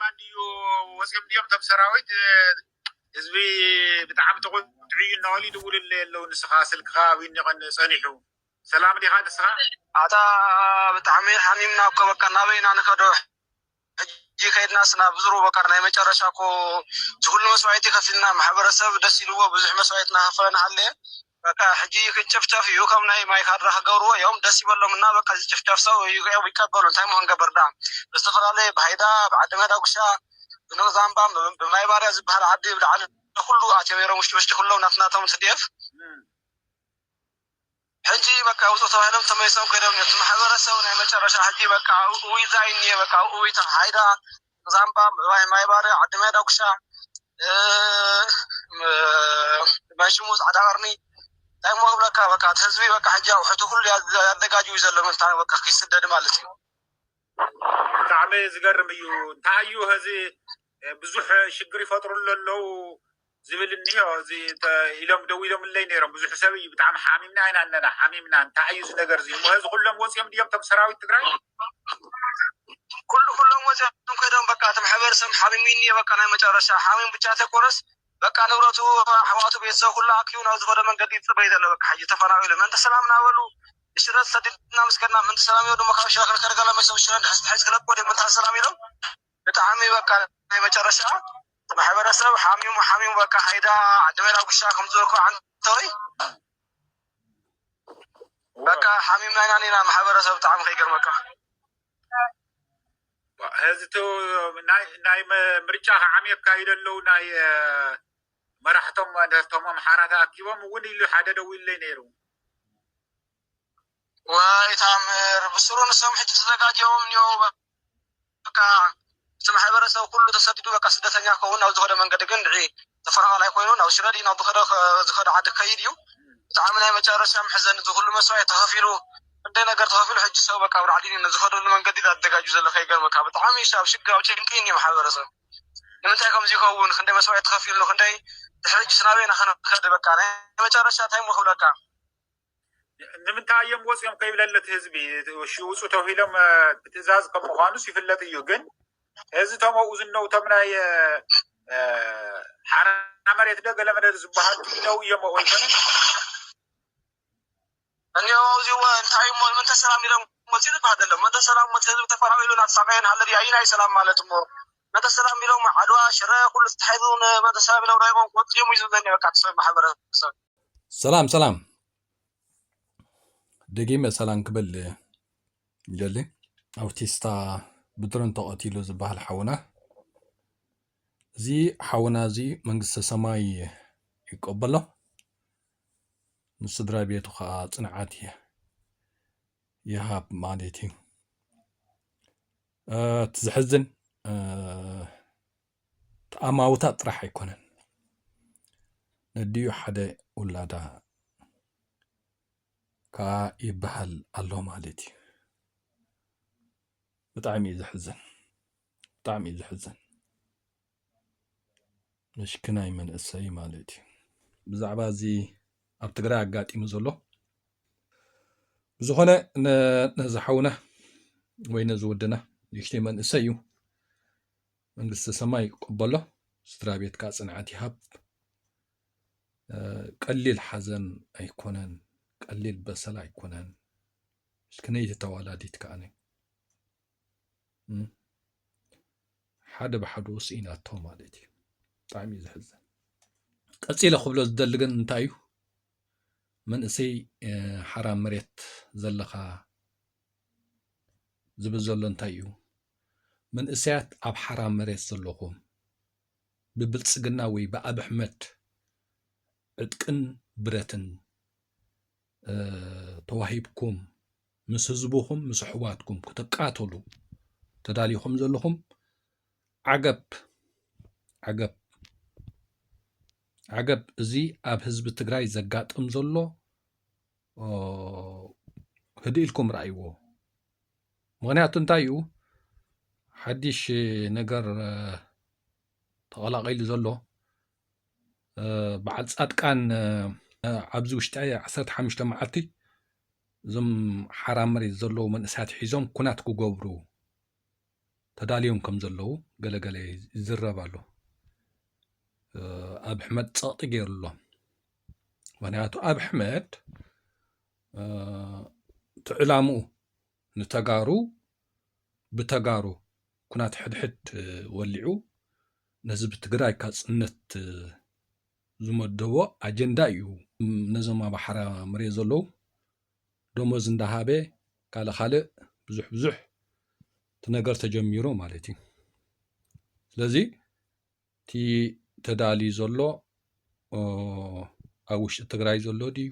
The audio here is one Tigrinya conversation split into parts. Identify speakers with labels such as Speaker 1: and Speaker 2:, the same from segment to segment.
Speaker 1: ማን ድዩ ወፂኦም ድዮም እቶም ሰራዊት ህዝቢ ብጣዕሚ ተቆጢዑ እዩ እናበሉ ይድውሉለይ ኣለው ንስኻ ስልክኻ ኣብይ ኒቀን ፀኒሑ ሰላም ዲኻ ንስኻ ኣታ
Speaker 2: ብጣዕሚ ሓሚምና እኮ በቃ ናበይ ኢና ንከዶ ሕጂ ከይድናስ ናብ ዝሩ በቃ ናይ መጨረሻ እኮ ዝኩሉ መስዋኢቲ ከፊልና ማሕበረሰብ ደስ ኢልዎ ብዙሕ መስዋኢት ናከፈለ ናሃለየ በቃ ሕጂ ክንጭፍጨፍ እዩ ከም ናይ ማይ ካድራ ክገብርዎ እዮም ደስ ይበሎም እና በቃ ዝጭፍጨፍ ሰብ እዮም ይቀበሉ እንታይ እሞ ክንገብር ድኣ ብዝተፈላለየ ብሃይዳ ብዓዲ መዳጉሻ ብንቅዛምባ ብማይባርያ ዝብሃል ዓዲ ብላዕሊ ኩሉ ኣትዮም ነይሮም ውሽጢ ውሽጢ ኩሎም ናትናቶም ትዲኤፍ ሕጂ በቃ ውጹ ተባሂሎም ተመሊሶም ከይዶም እቲ ማሕበረሰብ ናይ መጨረሻ ሕጂ በቃ እውይታ እዩ እኒኤ በቃ እውይታ ሃይዳ ዛምባ፣ ምዕባይ ማይባረ፣ ዓዲማይ ዳጉሻ፣ መንሽሙ፣ ፃዕዳ ቀርኒ ታይ እሞ ክብለካ በቃ እቲ ህዝቢ በቃ ሕጂ ኣቁሑቱ ኩሉ ኣዘጋጅዩ እዩ ዘሎ ምእንታን በቃ ክይስደድ ማለት እዩ። ብጣዕሚ
Speaker 1: ዝገርም እዩ እንታይ እዩ ሀዚ ብዙሕ ሽግር ይፈጥሩሉ ኣለው። ዝብል እኒሆ እዚ ኢሎም ደዊሎምለይ ነይሮም ብዙሕ ሰብ እዩ ብጣዕሚ ሓሚምና ኢና ኣለና ሓሚምና እንታይ እዩ እዚ ነገር እዚ እሞ ሀዚ ኩሎም ወፂኦም ድዮም እቶም ሰራዊት ትግራይ ኩሉ
Speaker 2: ኩሎም ወፂኦም ከይዶም በቃ እቲ ማሕበረሰብ ሓሚሙ እዩ እኒኦ በቃ ናይ መጨረሻ ሓሚሙ ብቻ ተይኮነስ በቃ ንብረቱ ኣሕዋቱ ቤተሰብ ኩሉ ኣኪቡ ናብ ዝኸዶ መንገዲ ይፅበይ ዘሎ በቃ ሕጂ ተፈናቂሉ ምእንቲ ሰላም እናበሉ ንሽረ ተሰዲድና ምስ ከድና ምእንቲ ሰላም ኢሎም ድማ ካብ ሽረ ክልከልከለ መሶም ሽረ እንድሕር ተታሒዙ ክለቅዎ ድዮም ምእንቲ ሰላም ኢሎም ብጣዕሚ በቃ ናይ መጨረሻ ማሕበረሰብ ሓሚሙ ሓሚሙ በቃ ሓይዳ ዓዲ መላጉሻ ከምዝበልኩ ዓንተወይ በቃ ሓሚምና ኢና ኒና ማሕበረሰብ ብጣዕሚ ከይገርመካ
Speaker 1: እዚ ናይ ምርጫ ከዓሚ የካይደ ኣለዉ ናይ መራሕቶም ደርቶም ኣምሓራ ተኣኪቦም እውን ኢሉ ሓደ ደዊለይ ነይሩ
Speaker 2: ዋይ ታምር ብስሩ ንሶም ሕጂ ተዘጋጅዮም እንየዉ በቃ እቲ ማሕበረሰብ ኩሉ ተሰዲዱ በቃ ስደተኛ ክከውን ናብ ዝኸደ መንገዲ ግን ንዒ ተፈናቃላይ ኮይኑ ናብ ሽረ ድዩ ናብ ዝኸደ ዝኸደ ዓዲ ክከይድ እዩ ብጣዕሚ ናይ መጨረሻ መሕዘኒ እዚ ኩሉ መስዋእት ተኸፊሉ ክንደይ ነገር ተኸፊሉ ሕጂ ሰው በቃ ኣብ ላዕሊ ንዝኸደሉ መንገዲ ዳ ትዘጋጁ ዘሎ ከይገርመካ ብጣዕሚ እዩ ኣብ ሽግር ኣብ ጭንቂ እዩ ማሕበረሰብ ንምንታይ ከምዚ ይኸውን ክንደይ መስዋእት ተኸፊሉ ክንደይ ድሕሪ ሕጂስ ናበይ ኢና ክንከድ በቃ ናይ መጨረሻ እንታይ እሞ ክብለካ
Speaker 1: ንምንታይ እዮም ወፂኦም ከይብለለ እቲ ህዝቢ ውፁ ተብሂሎም ብትእዛዝ ከም ምኳኑስ ይፍለጥ እዩ ግን እዚ ቶም ኣብኡ ዝነው ቶም ናይ ሓራ መሬት ደ ገለ መደር ዝበሃል ክነው እዮም ኣብኡ ይኮነ እኒኦ
Speaker 2: ኣብዚ እዋ እንታይ እሞ ምንተ ሰላም ኢሎም ወፂኡ ዝበሃል ዘሎ ምንተ ሰላም ወፂ ህዝቢ ተፈናቂሉ ናተሳቀየን ሃለዲ ኣይናይ ሰላም ማለት እሞ መተሰላም ቢሎም ዓድዋ ሽረ ኩሉ ተታሒዙ ንመተሰላም ቢሎም ረሂቦም ክወጹ ድዮም እዩ ዝብለኒ በቃ እቲ ሰብ
Speaker 3: ማሕበረሰብ። ሰላም ሰላም ደጊመ ሰላም ክብል ይደሊ ኣውቲስታ ብድሮን ተቐቲሉ ዝበሃል ሓውና እዚ ሓውና እዚ መንግስተ ሰማይ ይቀበሎ ንስድራ ቤቱ ከዓ ፅንዓት ይሃብ ማለት እዩ እቲ ዘሕዝን ኣማውታ ጥራሕ ኣይኮነን ነዲኡ ሓደ ውላዳ ከዓ ይበሃል ኣሎ ማለት እዩ ብጣዕሚ እዩ ዘሕዝን ብጣዕሚ እዩ ዘሕዝን መሽክናይ መንእሰይ ማለት እዩ ብዛዕባ እዚ ኣብ ትግራይ ኣጋጢሙ ዘሎ ብዝኾነ ነዚ ሓውና ወይ ነዚ ወድና ንእሽተይ መንእሰይ እዩ መንግስቲ ሰማይ ይቀበሎ ስድራ ቤትካ ፅንዓት ይሃብ ቀሊል ሓዘን ኣይኮነን ቀሊል በሰላ ኣይኮነን እስክነይቲ ተዋላዲት ከዓነ ሓደ ብሓዱ ስኢናቶ ማለት እዩ ብጣዕሚ እዩ ዝሕዝን ቀፂለ ክብሎ ዝደሊ ግን እንታይ እዩ መንእሰይ ሓራ መሬት ዘለካ ዝብል ዘሎ እንታይ እዩ መንእሰያት ኣብ ሓራ መሬት ዘለኹም ብብልፅግና ወይ ብኣብሕመድ ዕጥቅን ብረትን ተዋሂብኩም ምስ ህዝብኹም ምስ ኣሕዋትኩም ክትቃተሉ ተዳሊኹም ዘለኹም ዓገብ ዓገብ ዓገብ እዚ ኣብ ህዝቢ ትግራይ ዘጋጥም ዘሎ ህድእ ኢልኩም ረኣይዎ ምክንያቱ እንታይ እዩ ሓድሽ ነገር ተቐላቒሉ ዘሎ በዓል ፃድቃን ኣብዚ ውሽጢ ዓሰርተ ሓሙሽተ መዓልቲ እዞም ሓራ መሬት ዘለዉ መንእሰያት ሒዞም ኩናት ክገብሩ ተዳልዮም ከም ዘለዉ ገለገለ ይዝረብ ኣሎ ኣብ ሕመድ ፀቕጢ ገይሩ ኣሎ ምክንያቱ ኣብ ሕመድ እቲ ዕላምኡ ንተጋሩ ብተጋሩ ኩናት ሕድሕድ ወሊዑ ንህዝቢ ትግራይ ካፅነት ዝመደቦ ኣጀንዳ እዩ። ነዞም ኣብ ሓራ መሬት ዘለዉ ደሞዝ እንዳሃበ ካልእ ካልእ ብዙሕ ብዙሕ እቲ ነገር ተጀሚሩ ማለት እዩ። ስለዚ እቲ ተዳልዩ ዘሎ ኣብ ውሽጢ ትግራይ ዘሎ ድዩ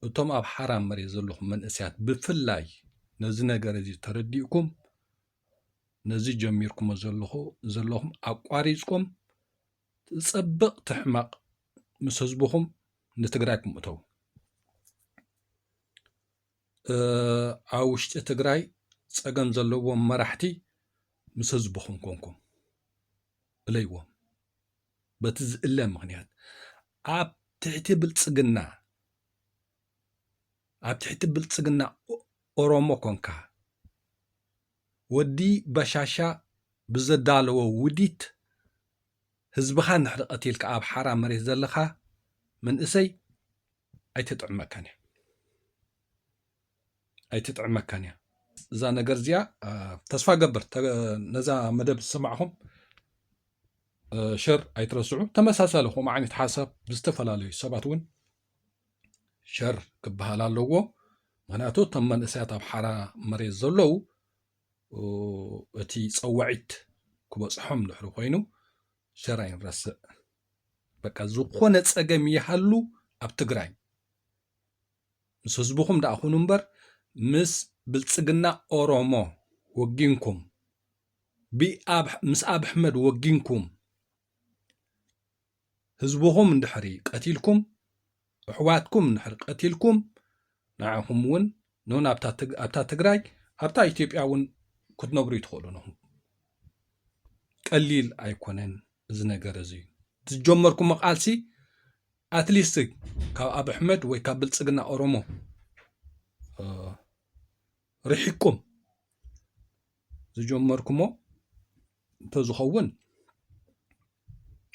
Speaker 3: እቶም ኣብ ሓራ መሬት ዘለኹም መንእስያት ብፍላይ ነዚ ነገር እዚ ተረዲእኩም ነዚ ጀሚርኩሞ ዘለኹ ዘለኹም ኣቋሪፅኩም ትፀብቕ ትሕመቕ ምስ ህዝብኹም ንትግራይ ክምእተው ኣብ ውሽጢ ትግራይ ፀገም ዘለዎም መራሕቲ ምስ ህዝብኹም ኮንኩም እለይዎም በቲ ዝእለ ምክንያት ኣብ ትሕቲ ብልፅግና ኣብ ትሕቲ ብልፅግና ኦሮሞ ኮንካ ወዲ በሻሻ ብዘዳለዎ ውዲት ህዝብኻ እንድሕሪ ቀቲልካ ኣብ ሓራ መሬት ዘለኻ መንእሰይ ኣይትጥዕመካን እያ። ኣይትጥዕመካን እያ። እዛ ነገር እዚኣ ተስፋ ገብር ነዛ መደብ ዝሰማዕኹም ሸር ኣይትረስዑ። ተመሳሳሊ ከምኡ ዓይነት ሓሳብ ብዝተፈላለዩ ሰባት እውን ሸር ክበሃል ኣለዎ ምክንያቱ እቶም መንእሰያት ኣብ ሓራ መሬት ዘለዉ እቲ ፀዋዒት ክበፅሖም ድሕሪ ኮይኑ ሸር ኣይንረስዕ በቃ ዝኾነ ፀገም ይሃሉ ኣብ ትግራይ ምስ ህዝብኹም ደኣ ኩኑ እምበር ምስ ብልፅግና ኦሮሞ ወጊንኩም ምስ ኣብ ኣሕመድ ወጊንኩም ህዝብኹም እንድሕሪ ቀቲልኩም እሕዋትኩም እንድሕሪ ቀቲልኩም ንዓኹም እውን ኖን ኣብታ ትግራይ ኣብታ ኢትዮጵያ እውን ክትነብሩ ይትኽእሉ ንኹም ቀሊል ኣይኮነን እዚ ነገር እዚ እዩ ዝጀመርኩም ቃልሲ ኣትሊስት ካብ ኣብ ኣሕመድ ወይ ካብ ብልፅግና ኦሮሞ ርሒቅኩም ዝጀመርኩሞ እንተዝኸውን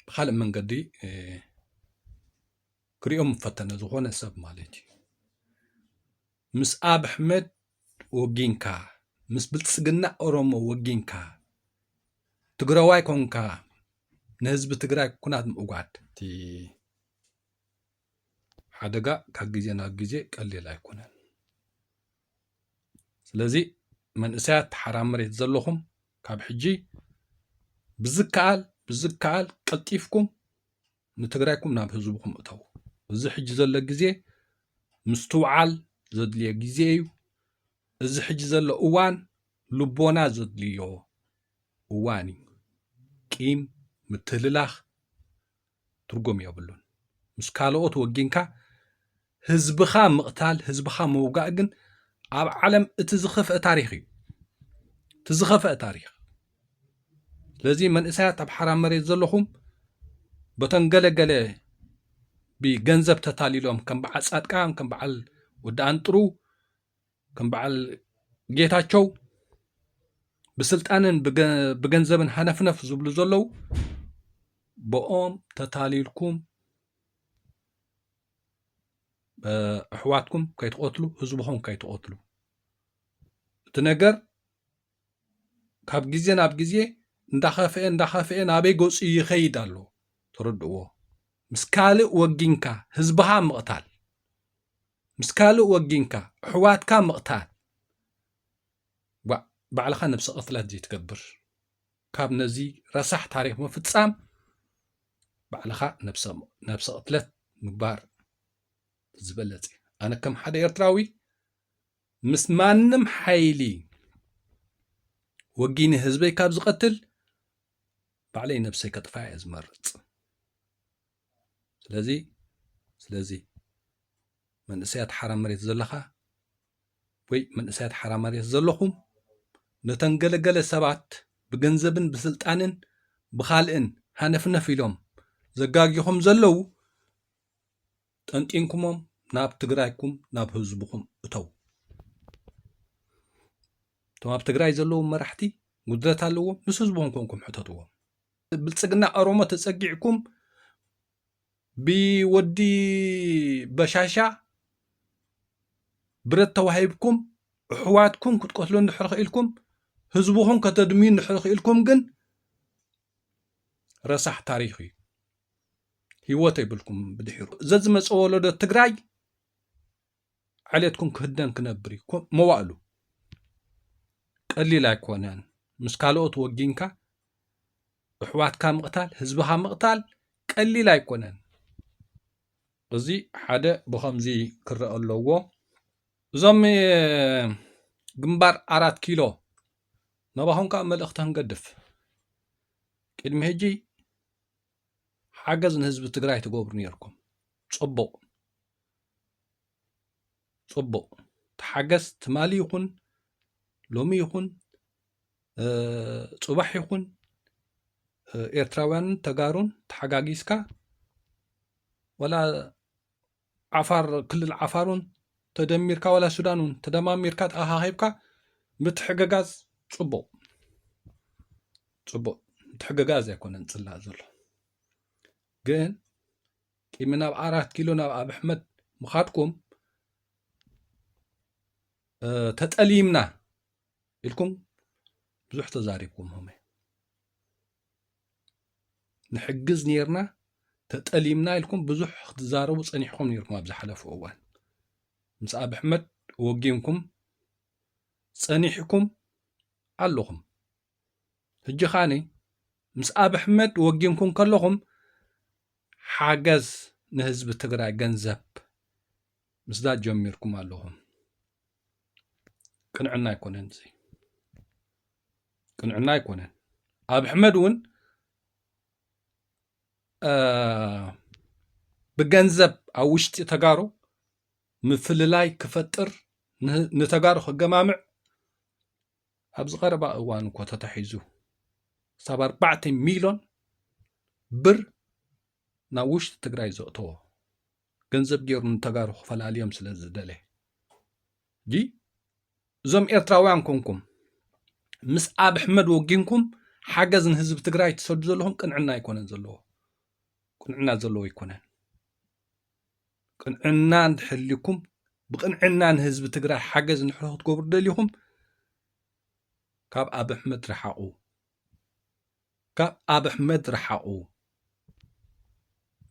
Speaker 3: ብካልእ መንገዲ ክሪኦ ምፈተነ ዝኾነ ሰብ ማለት እዩ ምስ ኣብ ኣሕመድ ወጊንካ ምስ ብልፅግና ኦሮሞ ወጊንካ ትግራዋይ ኮንካ ንህዝቢ ትግራይ ኩናት ምእጓድ እቲ ሓደጋ ካብ ግዜ ናብ ግዜ ቀሊል ኣይኮነን። ስለዚ መንእሰያት ተሓራ መሬት ዘለኹም ካብ ሕጂ ብዝከኣል ብዝከኣል ቀልጢፍኩም ንትግራይኩም ናብ ህዝብኩም እተው እዚ ሕጂ ዘሎ ግዜ ምስትውዓል ዘድልዮ ግዜ እዩ እዚ ሕጂ ዘሎ እዋን ልቦና ዘድልዮ እዋን እዩ ቂም ምትህልላኽ ትርጉም የብሉን ምስ ካልኦት ወጊንካ ህዝብኻ ምቕታል ህዝብኻ ምውጋእ ግን ኣብ ዓለም እቲ ዝኸፍአ ታሪክ እዩ እቲ ዝኸፍአ ታሪክ ስለዚ መንእሰያት ኣብ ሓራ መሬት ዘለኹም በተን ገለገለ ብገንዘብ ተታሊሎም ከም በዓል ፃድቃን ከም በዓል ወዲ ኣንጥሩ ከም በዓል ጌታቸው ብስልጣንን ብገንዘብን ሃነፍነፍ ዝብሉ ዘለዉ ብኦም ተታሊልኩም ኣሕዋትኩም ከይትቐትሉ ህዝብኹም ከይትቐትሉ እቲ ነገር ካብ ግዜ ናብ ግዜ እንዳኸፍአ እንዳኸፍአ ናበይ ገፁ ይኸይድ ኣሎ ተረድእዎ ምስ ካልእ ወጊንካ ህዝብኻ ምቕታል ምስ ካልእ ወጊንካ እሕዋትካ ምቕታል ዋእ ባዕልኻ ነብሰ ቅትለት ዘይትገብር ካብ ነዚ ረሳሕ ታሪኽ ምፍጻም ባዕልኻ ነብሰ ነብሰ ቅትለት ምግባር ዝበለጽ እዩ ኣነ ከም ሓደ ኤርትራዊ ምስ ማንም ሓይሊ ወጊኒ ህዝበይ ካብ ዝቐትል ባዕለይ ነብሰይ ከጥፋ እየ ዝመርጽ ስለዚ ስለዚ መንእሰያት ሓራ መሬት ዘለኻ ወይ መንእሰያት ሓራ መሬት ዘለኹም ነተን ገለገለ ሰባት ብገንዘብን ብስልጣንን ብኻልእን ሃነፍነፍ ኢሎም ዘጋጊኹም ዘለዉ ጠንጢንኩሞም ናብ ትግራይኩም ናብ ህዝብኹም እተው እቶም ኣብ ትግራይ ዘለዉ መራሕቲ ጉድለት ኣለዎም ምስ ህዝቦም ኮንኩም ሕተትዎም ብልፅግና ኦሮሞ ተፀጊዕኩም ብወዲ በሻሻ ብረት ተዋሂብኩም ኣሕዋትኩም ክትቀትሉ እንድሕር ክኢልኩም ህዝብኹም ከተድምዩ እንድሕር ክኢልኩም ግን ረሳሕ ታሪክ እዩ ህይወት ኣይብልኩም ብድሒሩ ዘዝመፀ ወለዶ ትግራይ ዓሌትኩም ክህደን ክነብር እዩ መዋእሉ ቀሊል ኣይኮነን ምስ ካልኦት ወጊንካ እሕዋትካ ምቕታል ህዝብኻ ምቕታል ቀሊል ኣይኮነን እዚ ሓደ ብኸምዚ ክረአ ኣለዎ እዞም ግንባር ኣራት ኪሎ ነባኹም ከዓ መልእኽቲ ክንገድፍ ቅድሚ ሕጂ ሓገዝ ንህዝቢ ትግራይ ትገብሩ ነርኩም ፅቡቅ ፅቡቅ ተሓገዝ ትማሊ ይኹን ሎሚ ይኹን ፅባሕ ይኹን ኤርትራውያንን ተጋሩን ተሓጋጊዝካ ወላ ዓፋር ክልል ዓፋር ውን ተደሚርካ ዋላ ሱዳን ውን ተደማሚርካ ተኣኻኺብካ ምትሕግጋዝ ጽቡቕ ጽቡቕ ምትሕግጋዝ ኣይኮነን ጽላእ ዘሎ ግን ቂሚ ናብ ኣራት ኪሎ ናብ ኣብ ኣሕመድ ምኻድኩም ተጠሊምና ኢልኩም ብዙሕ ተዛሪብኩም ሆመ ንሕግዝ ነርና ተጠሊምና ኢልኩም ብዙሕ ክትዛረቡ ፀኒሕኩም ነርኩም ኣብ ዝሓለፉ እዋን ምስ ኣብ ኣሕመድ ወጊንኩም ፀኒሕኩም ኣለኹም ሕጂ ኻኒ ምስ ኣብ ኣሕመድ ወጊንኩም ከለኹም ሓገዝ ንህዝቢ ትግራይ ገንዘብ ምስዳድ ጀሚርኩም ኣለኹም ቅንዕና ኣይኮነን እዚ ቅንዕና ኣይኮነን ኣብ ሕመድ እውን ብገንዘብ ኣብ ውሽጢ ተጋሩ ምፍልላይ ክፈጥር ንተጋሩ ክገማምዕ ኣብዚ ቀረባ እዋን እኮ ተታሒዙ ክሳብ ኣርባዕተ ሚሊዮን ብር ናብ ውሽጢ ትግራይ ዘእተዎ ገንዘብ ገይሩ ንተጋሩ ክፈላልዮም ስለ ዝደለ ጂ እዞም ኤርትራውያን ኮንኩም ምስ ኣብ ኣሕመድ ወጊንኩም ሓገዝ ንህዝቢ ትግራይ ትሰዱ ዘለኹም ቅንዕና ኣይኮነን ዘለዎ ቅንዕና ዘለዎ ኣይኮነን ቅንዕና እንተሕልኩም ብቅንዕና ንህዝቢ ትግራይ ሓገዝ ንሕሮ ክትገብሩ ደሊኹም ካብ ኣብ ኣሕመድ ረሓቑ ካብ ኣብሕመድ ርሓቁ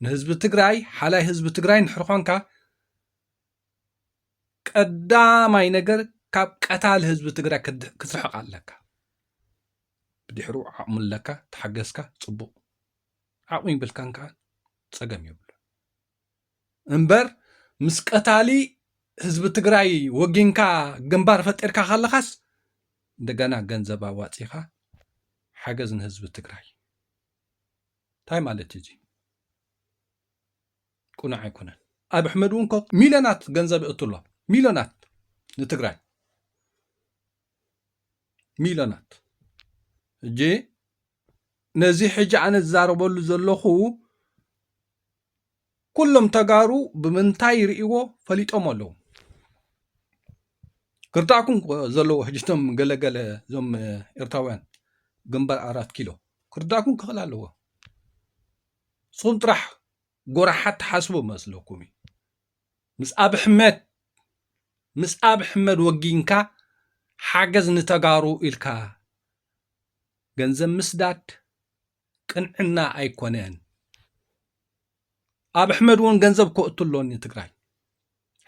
Speaker 3: ንህዝቢ ትግራይ ሓላይ ህዝቢ ትግራይ እንድሕር ኾንካ ቀዳማይ ነገር ካብ ቀታሊ ህዝቢ ትግራይ ክትርሕቕ ኣለካ ብድሕሩ ዓቕሚ ኣለካ ተሓገዝካ ፅቡቕ ዓቕሚ ይብልካን ከዓ ፀገም ይብሉ እምበር ምስ ቀታሊ ህዝቢ ትግራይ ወጊንካ ግንባር ፈጢርካ ከለኻስ እንደገና ገንዘብ ኣዋፂኻ ሓገዝ ንህዝቢ ትግራይ እንታይ ማለት እዩ እዚ ቁኑዕ ኣይኮነን ኣብ ኣሕመድ እውን ኮ ሚልዮናት ገንዘብ እእቱ ኣሎ ሚልዮናት ንትግራይ ሚልዮናት እጂ ነዚ ሕጂ ኣነ ዝዛረበሉ ዘለኹ ኩሎም ተጋሩ ብምንታይ ይርእይዎ ፈሊጦም ኣለዉ ክርዳእኩም ዘለዎ ሕጅቶም ገለገለ እዞም ኤርትራውያን ግንባር ኣራት ኪሎ ክርዳእኩም ክኽእል ኣለዎ ንስኹም ጥራሕ ጎራሓት ትሓስቡ መስለኩም እዩ ምስ ኣብ ሕመድ ምስ ኣብ ሕመድ ወጊንካ ሓገዝ ንተጋሩ ኢልካ ገንዘብ ምስዳድ ቅንዕና ኣይኮነን ኣብ ኣሕመድ እውን ገንዘብ ከእቱ ኣሎኒ ትግራይ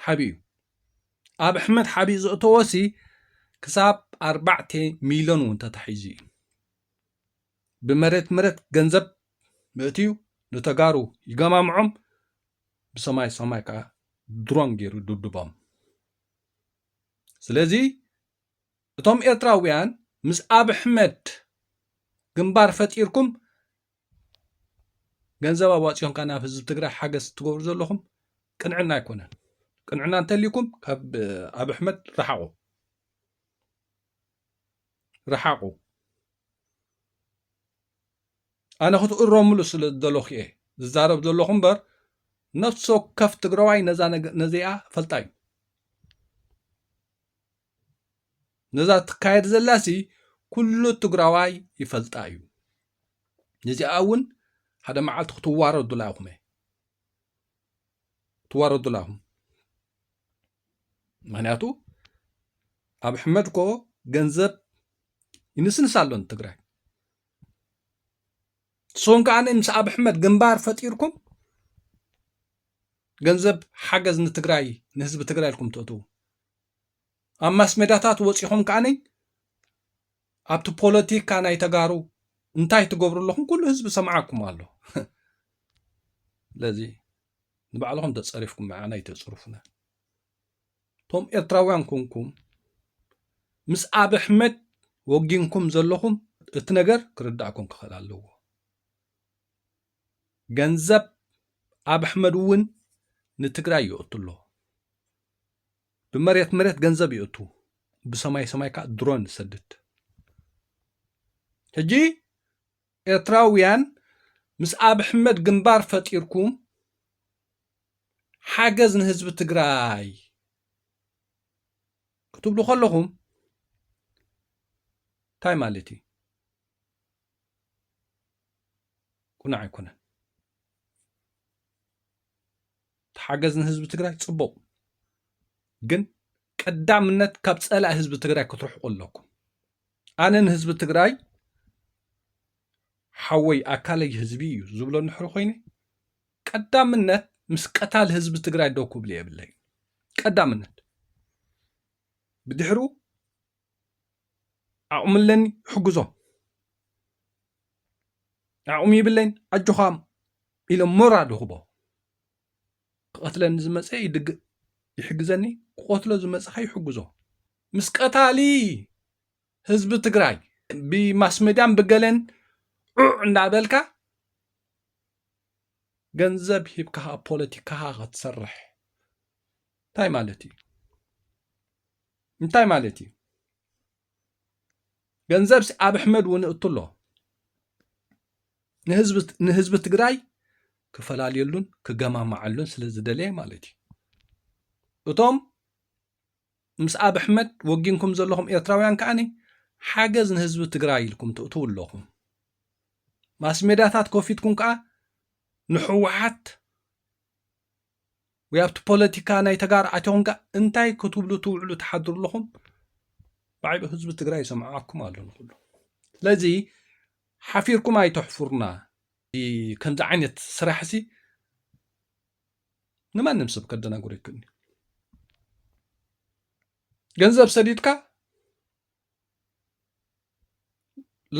Speaker 3: ሓብኡ ኣብ ኣሕመድ ሓብኡ ዘእተወሲ ክሳብ ኣርባዕተ ሚሊዮን እውን ተታሒዙ እዩ ብመሬት መሬት ገንዘብ ምእትዩ ንተጋሩ ይገማምዖም ብሰማይ ሰማይ ከዓ ድሮን ገይሩ ድብድቦም ስለዚ እቶም ኤርትራውያን ምስ ኣብሕመድ ግንባር ፈጢርኩም ገንዘብ ኣዋፂኹም ከ ናብ ህዝቢ ትግራይ ሓገዝ ትገብሩ ዘለኹም ቅንዕና ኣይኮነን ቅንዕና እንተልይኩም ካብ ኣብ ኣሕመድ ረሓቑ ረሓቑ ኣነ ክትእረምሉ ስለ ዘለኹ እየ ዝዛረብ ዘለኹ እምበር ነፍሲ ወከፍ ትግራዋይ ነዚኣ ፈልጣ እዩ ነዛ ትካየድ ዘላሲ ኩሉ ትግራዋይ ይፈልጣ እዩ ንዚኣ እውን ሓደ መዓልቲ ክትዋረዱላ ኢኹም እየ ትዋረዱላ ኢኹም ምክንያቱ ኣብ ሕመድ ኮ ገንዘብ ይንስንስ ኣሎ ንትግራይ ንስኹም ከዓ ምስ ኣብ ሕመድ ግንባር ፈጢርኩም ገንዘብ ሓገዝ ንትግራይ ንህዝቢ ትግራይ ኢልኩም ትእትዉ ኣብ ማስሜዳታት ወፂኹም ከዓኒ ኣብቲ ፖለቲካ ናይ ተጋሩ እንታይ ትገብሩ ኣለኹም ኩሉ ህዝቢ ሰምዓኩም ኣሎ ስለዚ ንባዕልኹም ተፀሪፍኩም መዓና ይተፅርፉና እቶም ኤርትራውያን ኮንኩም ምስ ኣብ ኣሕመድ ወጊንኩም ዘለኹም እቲ ነገር ክርዳእኩም ክኽእል ኣለዎ ገንዘብ ኣብ ኣሕመድ እውን ንትግራይ ይእቱ ኣሎ ብመሬት መሬት ገንዘብ ይእቱ ብሰማይ ሰማይ ከዓ ድሮን ይሰድድ ሕጂ ኤርትራውያን ምስ ኣብ ኣሕመድ ግንባር ፈጢርኩም ሓገዝ ንህዝቢ ትግራይ ክትብሉ ከለኹም እንታይ ማለት እዩ ቁኑዕ ኣይኮነን ተሓገዝ ንህዝቢ ትግራይ ፅቡቅ ግን ቀዳምነት ካብ ፀላኢ ህዝቢ ትግራይ ክትርሕቁ ኣለኩም ኣነ ንህዝቢ ትግራይ ሓወይ ኣካለይ ህዝቢ እዩ ዝብሎ ንሕሪ ኮይነ ቀዳምነት ምስ ቀታል ህዝቢ ትግራይ ደው ክብሉ የብለይ ቀዳምነት ብድሕሩ ዓቕሚ ኣለኒ ይሕግዞም ዓቕሚ ይብለይን ኣጆኻ ኢሎም ሞራል ይኽቦ ክቐትለኒ ዝመፀ ይድግእ ይሕግዘኒ ክቐትሎ ዝመፀ ከ ይሕግዞ ምስ ቀታሊ ህዝቢ ትግራይ ብማስሜድያን ብገለን ዑዕ እንዳበልካ ገንዘብ ሂብካ ፖለቲካኻ ክትሰርሕ እንታይ ማለት እዩ እንታይ ማለት እዩ? ገንዘብ ኣብ ኣሕመድ እውን እእቱ ኣሎ ንህዝቢ ትግራይ ክፈላለየሉን ክገማማዓሉን ስለ ዝደለየ ማለት እዩ እቶም ምስ ኣብ ኣሕመድ ወጊንኩም ዘለኹም ኤርትራውያን ከዓኒ ሓገዝ ንህዝቢ ትግራይ ኢልኩም ትእትው ኣለኹም ማስሜዳታት ኮፊትኩም ከዓ ንሕወሓት ወይ ኣብቲ ፖለቲካ ናይ ተጋሩ ኣትኹም ከ እንታይ ክትብሉ ትውዕሉ ትሓድሩ ኣለኹም? ባዕሉ ህዝቢ ትግራይ ይሰምዓኩም ኣሎ ንኩሉ። ስለዚ ሓፊርኩም ኣይተሕፍሩና። ከምዚ ዓይነት ስራሕ ሲ ንማንም ሰብ ከደናግሮ ይክእል ገንዘብ ሰዲድካ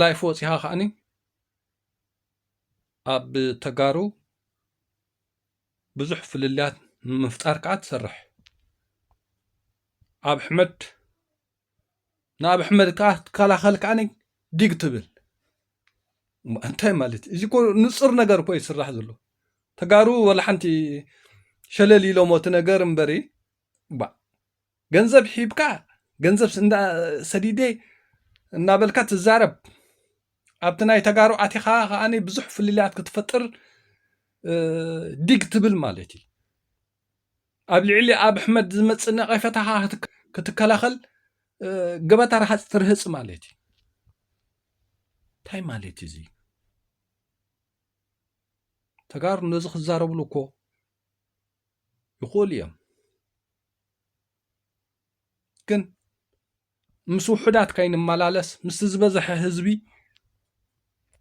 Speaker 3: ላይፍ ወፂኻ ከዓኒ ኣብ ተጋሩ ብዙሕ ፍልልያት ንምፍጣር ከዓ ትሰርሕ ኣብ ሕመድ ንኣብ ሕመድ ከዓ ትከላኸል ከዓኒ ዲግ ትብል እንታይ ማለት እዩ እዚ እኮ ንፁር ነገር እኮ እዩ ዝስራሕ ዘሎ ተጋሩ ወላ ሓንቲ ሸለል ኢሎሞ እቲ ነገር እምበሪ ባእ ገንዘብ ሒብካ ገንዘብ እንዳ ሰዲደ እናበልካ ትዛረብ ኣብቲ ናይ ተጋሩ ኣቲኻ ከኣ ብዙሕ ፍልልያት ክትፈጥር ዲግ ትብል ማለት እዩ ኣብ ልዕሊ ኣብ ኣሕመድ ዝመፅእ ነቐፈታኻ ክትከላኸል ገበታ ረሃፅ ትርህፅ ማለት እዩ እንታይ ማለት እዩ እዙይ ተጋሩ ነዚ ክዛረብሉ እኮ ይኽእሉ እዮም ግን ምስ ውሑዳት ከይንመላለስ ምስ ዝበዝሐ ህዝቢ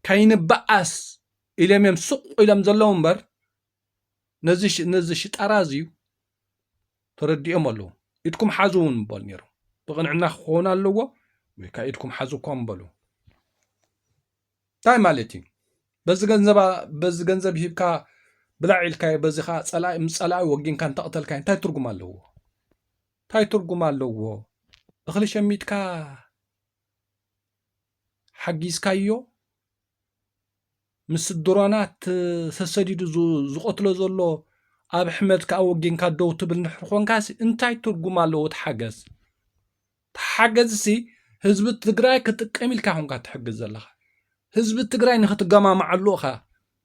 Speaker 3: ከይንበኣስ ኢሎም እዮም ስቕ ኢሎም ዘለዉ እምበር ነዚ ነዚ ሽጣራ እዚዩ ተረዲኦም ኣለዉ ኢድኩም ሓዙ እውን ምበሉ ነይሩ ብቕንዕና ክኸውን ኣለዎ ወይ ከዓ ኢድኩም ሓዙ እኳ ምበሉ ታይ ማለት እዩ በዚ ገንዘብ በዚ ገንዘብ ሂብካ ብላዕ ኢልካዮ በዚ ከዓ ፀላኢ ምስ ፀላኢ ወጊንካ እንተቕተልካዮ እንታይ ትርጉም ኣለዎ እንታይ ትርጉም ኣለዎ እኽሊ ሸሚትካ ሓጊዝካዮ ምስ ድሮናት ተሰዲዱ ዝቐትሎ ዘሎ ኣብ ሕመት ከዓ ወጊንካ ደው ትብል ንሕር ኮንካሲ እንታይ ትርጉም ኣለዎ ትሓገዝ ተሓገዝሲ ህዝቢ ትግራይ ክጥቀም ኢልካ ኮንካ ትሕግዝ ዘለኻ ህዝቢ ትግራይ ንክትገማማዓሉ እኻ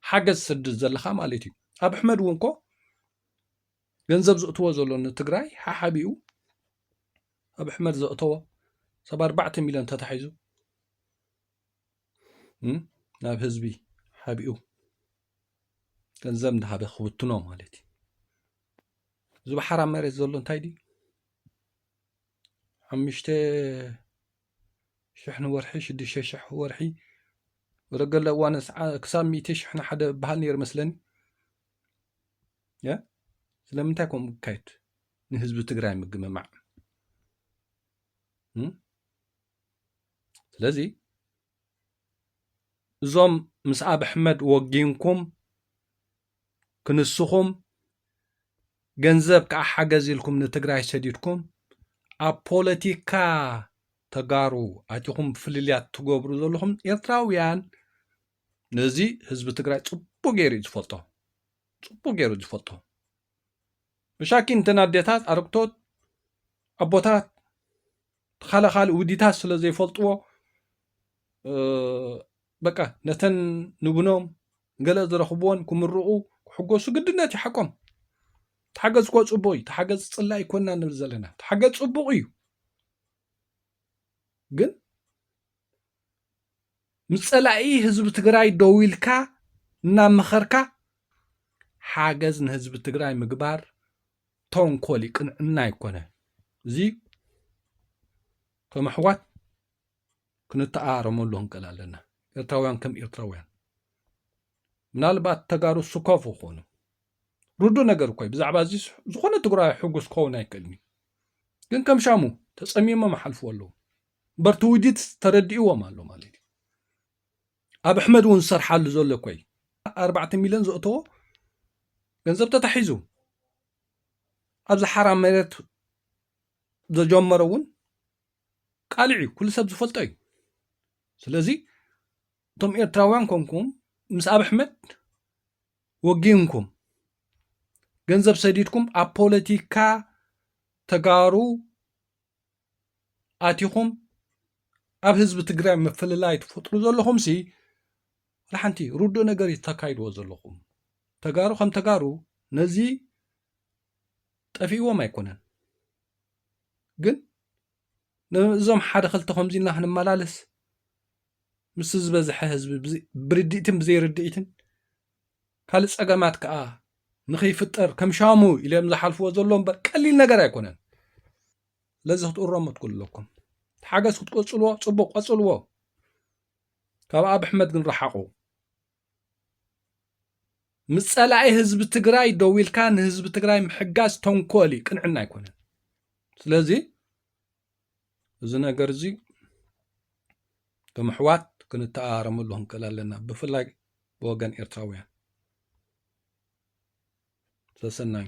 Speaker 3: ሓገዝ ትሰድድ ዘለኻ ማለት እዩ ኣብ ኣሕመድ እውን ኮ ገንዘብ ዘእትዎ ዘሎ ንትግራይ ሓሓቢኡ ኣብ ኣሕመድ ዘእተዎ ሰብ ኣርባዕተ ሚልዮን ተታሒዙ ናብ ህዝቢ ሓቢኡ ገንዘብ እንዳሃበ ክውትኖ ማለት እዩ እዚ በሓራ መሬት ዘሎ እንታይ ድዩ ሓሙሽተ ሽሕ ንወርሒ ሽዱሽተ ሽሕ ወርሒ ወደ ገለ እዋን ክሳብ ሚእቲ ሽሕ ንሓደ በሃል ነይሩ መስለኒ ስለምንታይ ከምኡ ክካየድ ንህዝቢ ትግራይ ምግምማዕ ስለዚ እዞም ምስ ኣብ ኣሕመድ ወጊንኩም ክንስኹም ገንዘብ ከዓ ሓገዝ ኢልኩም ንትግራይ ሰዲድኩም ኣብ ፖለቲካ ተጋሩ ኣቲኹም ፍልልያት ትገብሩ ዘለኹም ኤርትራውያን ነዚ ህዝቢ ትግራይ ፅቡቅ ገይሩ እዩ ዝፈልጦ ፅቡቅ ገይሩ ዝፈልጦ ብሻኪ እንተን ኣዴታት ኣረግቶት ኣቦታት ካለ ካልእ ውዲታት ስለ ዘይፈልጥዎ በቃ ነተን ንብኖም ገለ ዝረኽብዎን ክምርቑ ክሕጎሱ ግድነት እዩ ሓቆም ተሓገዝ እኮ ፅቡቅ እዩ ተሓገዝ ፅላ ይኮና ንብል ዘለና ተሓገዝ ፅቡቅ እዩ ግን ምስ ፀላኢ ህዝቢ ትግራይ ደው ኢልካ እናመኸርካ ሓገዝ ንህዝቢ ትግራይ ምግባር ተንኮል እዩ ቅንዕና ኣይኮነ እዚ ከም ኣሕዋት ክንተኣረመሉ ክንቀል ኣለና ኤርትራውያን ከም ኤርትራውያን ምናልባት ተጋሩ ስኮፍ ይኾኑ ርዱ ነገር እኮይ ብዛዕባ እዚ ዝኾነ ትግራዊ ሕጉስ ክኸውን ኣይክእልን እዩ ግን ከም ሻሙ ተፀሚሞም ሓልፍዎ ኣለዉ እምበር ትውዲት ተረዲእዎም ኣሎ ማለት እዩ ኣብ ኣሕመድ እውን ዝሰርሓሉ ዘሎ እኮ እዩ ኣርባዕተ ሚልዮን ዘእተዎ ገንዘብ ተታሒዙ ኣብዚ ሓራ መሬት ዘጀመሮ እውን ቃልዕ እዩ ኩሉ ሰብ ዝፈልጦ እዩ ስለዚ እቶም ኤርትራውያን ኮንኩም ምስ ኣብ ኣሕመድ ወጊንኩም ገንዘብ ሰዲድኩም ኣብ ፖለቲካ ተጋሩ ኣቲኹም ኣብ ህዝቢ ትግራይ ምፍልላይ ትፈጥሩ ዘለኹም ሲ ሓንቲ ርዱእ ነገር እዩ ተካይድዎ ዘለኹም ተጋሩ ከም ተጋሩ ነዚ ጠፊእዎም ኣይኮነን ግን ነዞም ሓደ ክልተ ከምዚ እና ክንመላለስ ምስ ዝበዝሐ ህዝቢ ብርድኢትን ብዘይርድኢትን ካልእ ጸገማት ከኣ ንክይፍጠር ከም ሻሙ ኢሎም ዝሓልፍዎ ዘሎ እምበር ቀሊል ነገር ኣይኮነን። ስለዚ ክትእረሙ ትክእሉ ኣለኩም። ሓገዝ ክትቀጽልዎ ጽቡቅ ቀጽልዎ። ካብ ኣብ ኣሕመድ ግን ረሓቁ። ምስ ጸላኢ ህዝቢ ትግራይ ደው ኢልካ ንህዝቢ ትግራይ ምሕጋዝ ተንኮል እዩ፣ ቅንዕና ኣይኮነን። ስለዚ እዚ ነገር እዚ ከም ኣሕዋት ክንተኣራረመሉ ክንክእል ኣለና ብፍላይ ብወገን ኤርትራውያን ሰሰናዩ